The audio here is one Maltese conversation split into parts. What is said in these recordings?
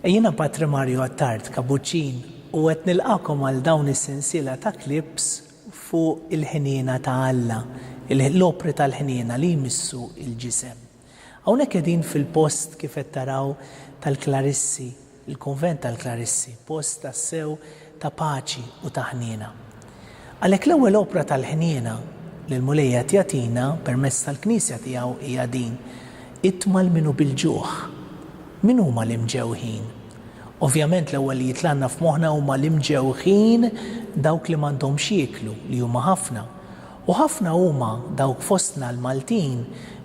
Jiena Patri Mario Attard Kabuċin u qed nilqakom għal dawn is-sensiela ta' clips fuq il-ħniena ta' Alla, l-opri tal-ħniena li jmissu l-ġisem. Hawnhekk qegħdin fil-post kif qed taraw tal-Klarissi, il-Kunvent tal-Klarissi, post tassew ta' paċi u ta' ħniena. Għalhekk l-ewwel opra tal-ħniena li l-Mulej qed jagħtina permezz tal-Knisja tiegħu hija din, Itmal min hu bil-ġuħ. Min huma l-imġewħin? Ovvjament l-ewwel li jitlgħalna f'moħħna huma l-imġewħin dawk li m'għandhomx jieklu, li huma ħafna. U ħafna huma dawk fostna l-Maltin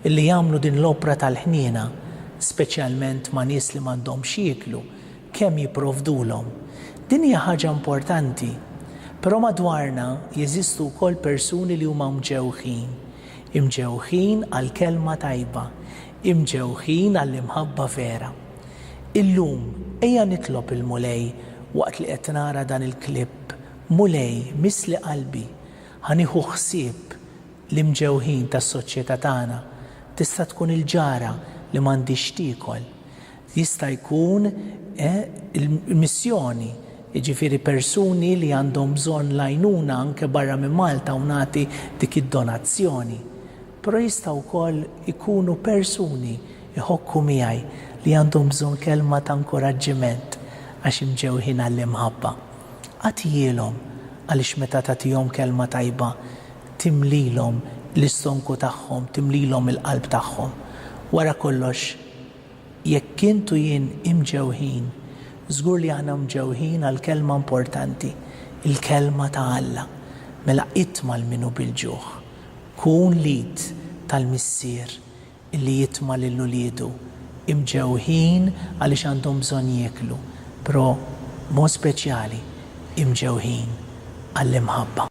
li jagħmlu din l-opra tal-ħniena, speċjalment ma' nies li m'għandhomx x'jieklu, kemm jipprovdulhom. Din hija ħaġa importanti. Però madwarna jeżistu wkoll persuni li huma mġewħin. Imġewħin għall-kelma tajba. Imġewħin għall-imħabba vera. Illum, ejja nitlob il-Mulej waqt li qed nara dan il-klipp, Mulej, missli qalbi. Ħa nieħu ħsieb l-imġewħin tas-soċjetà tagħna. Tista' tkun il-ġara li m'għandhiex x'tiekol. Jista' jkun il-missjoni, jiġifieri persuni li għandhom bżonn l-għajnuna anke barra minn Malta u nagħti dik id-donazzjoni. Però jistgħu wkoll ikunu persuni jħokku miegħi li għandhom bżonn kelma ta' nkuraġġiment għax imġewħin għall-imħabba. Agħtihielhom, għaliex meta tagħtihom kelma tajba timlilhom l-istonku tagħhom, timlilhom il-qalb tagħhom. Wara kollox, jekk int u jien imġewħin, żgur li aħna mġewħin għal kelma importanti, il-kelma ta' Alla. Mela itma' lil min hu bil-ġuħ. Kun l-id tal-missier li jitma' lil uliedu imġewħin għaliex għandhom bżonn jieklu, però b'mod speċjali imġewħin għall-imħabba.